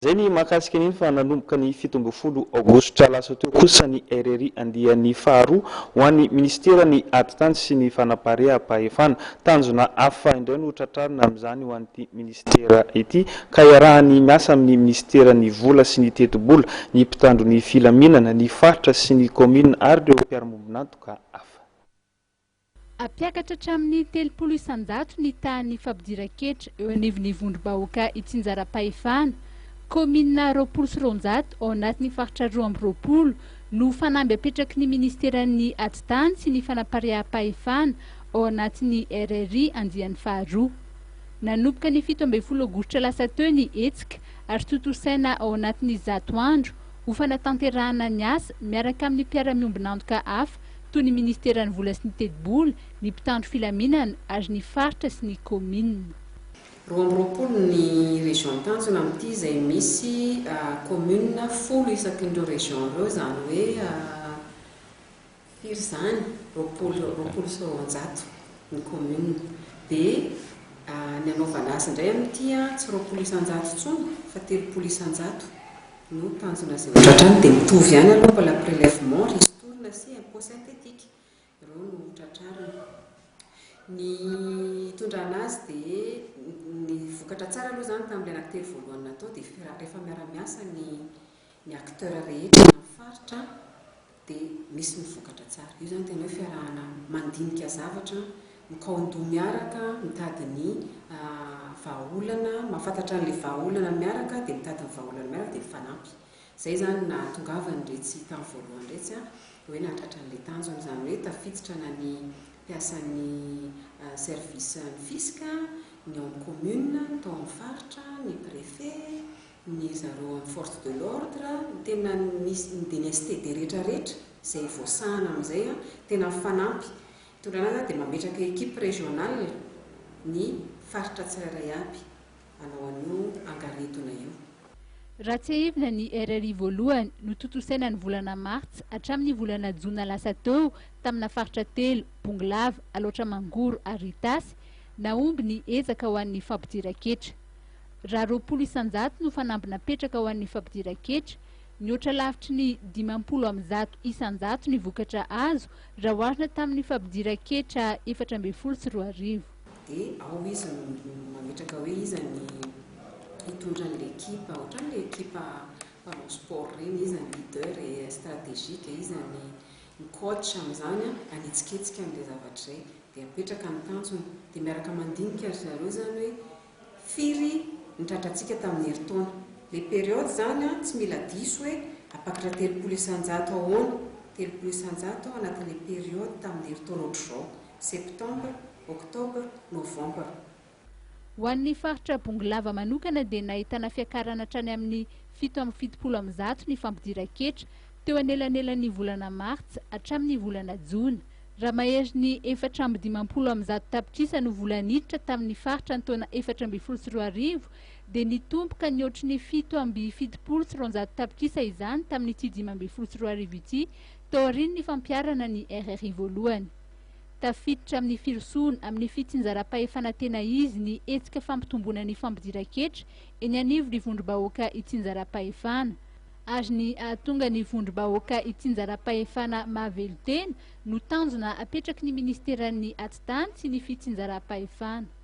Izay ny mahakasika an'iny fa nanomboka ny fito ambin'ny folo aogositra lasa teo kosa ny RRI andiany faharoa ho an'ny minisiteran'ny Atitany sy ny Fanapareha-pahefana. Tanjona hafa indray no tratrarina amin'izany ho an'ity minisitera ity ka iarahany miasa amin'ny minisiteran'ny Vola sy ny Tetibola, ny mpitandro ny filaminana, ny faritra sy ny kaominina ary ireo mpiara-mombon'antoka hafa. Hampiakatra hatramin'ny telopolo isan-jato ny tahan'ny fampidiran-ketra eo anivon'ny vondrom-bahoaka itsinjaram-pahefana. Kaominina roapolo sy roanjato ao anatin'ny faritra roa amby roapolo no fanamby apetraky ny Ministeran'ny Atitany sy ny Fanapariaham-pahefana ao anatin'ny RRI andiany faharoa. Nanomboka ny fito ambin'ny folo aogositra lasa teo ny hetsika ary tontosaina ao anatin'ny zato andro ho fanatanterahana ny asa miaraka amin'ny mpiara-miombon'antoka hafa toy ny ministeran'ny vola sy ny tetibola, ny mpitandro filaminana ary ny faritra sy ny kaominina. Roa amby roapolo ny région tanjona amin'ity izay misy commune folo isakin'ireo région ireo, izany hoe firy izany? roapolo, roapolo sy roanjato ny commune. Dia ny anaovana azy indray amin'ity tsy roapolo isan-jato intsony fa telopolo isan-jato no tanjona zavatra hatrany dia mitovy ihany aloha fa la prelèvement ristourne sy impôt synthétique ireo no tratrarina ny hitondrana azy dia ny vokatra tsara aloha izany tamin'ilay anankitelo voalohany natao dia rehefa miara-miasa ny ny acteurs rehetra na ny faritra dia misy ny vokatra tsara. Io izany tena hoe fiarahana mandinika zavatra, mikaon-doha miaraka, mitady ny vahaolana, mahafantatra an'ilay vahaolana miaraka dia mitady ny vahaolana miaraka dia mifanampy. Izay izany no nahatongavan'iretsy tamin'ny voalohany iretsy hoe nahatratra an'ilay tanjona. Izany hoe tafiditra na ny mpiasan'ny service ny fisc, ny ao amin'ny commune, ny tao amin'ny faritra, ny préfet, ny zareo any force de l'ordre no tena nisy ny dlst de rehetra rehetra izay voasahana amin'izay an, tena mifanampy, hitondrana zany dia mametraka equipe régionale ny faritra tsirairay aby hanao an'io angaretona io. Raha tsiahivina ny RRI voalohany no tontosaina ny volana martsa hatramin'ny volana jona lasa teo tamina faritra telo, Bongolava, Alaotra Mangoro ary Itasy, nahomby ny ezaka ho an'ny fampidiran-ketra. Raha roapolo isan-jato no fanamby napetraka ho an'ny fampidiran-ketra, nihoatra lavitry ny dimampolo amby zato isan-jato ny vokatra azo raha oharina tamin'ny fampidiran-ketra efatra ambin'ny folo sy roa arivo. Dia ao izy no mametraka hoe iza ny hitondra an'ilay ekipa, ohatran'ny ilay ekipa mpanao sport ireny, iza ny leader et stratégique, iza ny ny coach amin'izany an, hanetsiketsika an'ilay zavatra izay, dia apetraka ny tanjona, dia miaraka mandinika ry zareo izany hoe Firy ny tratrantsika tamin'ny herintaona? Ilay période izany an, tsy mila diso hoe apakitra telopolo isan-jato ahoana, telopolo isan-jato ao anatin'ilay période tamin'ny herintaona ohatr'izao, septembre, octobre, novembre. Ho an'ny faritra Bongolava manokana dia nahitana fiakarana hatrany amin'ny fito amby fitopolo amby zato ny fampidiran-ketra, teo anelanelan'ny volana martsa hatramin'ny volana jona, Raha maherin'ny efatra amby dimampolo amby zato tapitrisa no vola niditra tamin'ny faritra ny taona efatra ambin'ny folo sy roa arivo, dia nitombo ka nihoatry ny fito amby fitopolo sy roanjato tapitrisa izany tamin'ity dimy ambin'ny folo sy roa arivo ity, taorian'ny fampiharana ny RRI voalohany. Tafiditra amin'ny firosoana amin'ny fitsinjaram-pahefana tena izy ny hetsika fampitomboana ny fampidiran-ketra eny anivon'ny vondrom-bahoaka itsinjaram-pahefana. ary ny hahatonga ny vondrom-bahoaka hitsinjaram-pahefana mahavelon-tena no tanjona apetraky ny Ministeran'ny Atidan sy ny Fitsinjaram-pahefana.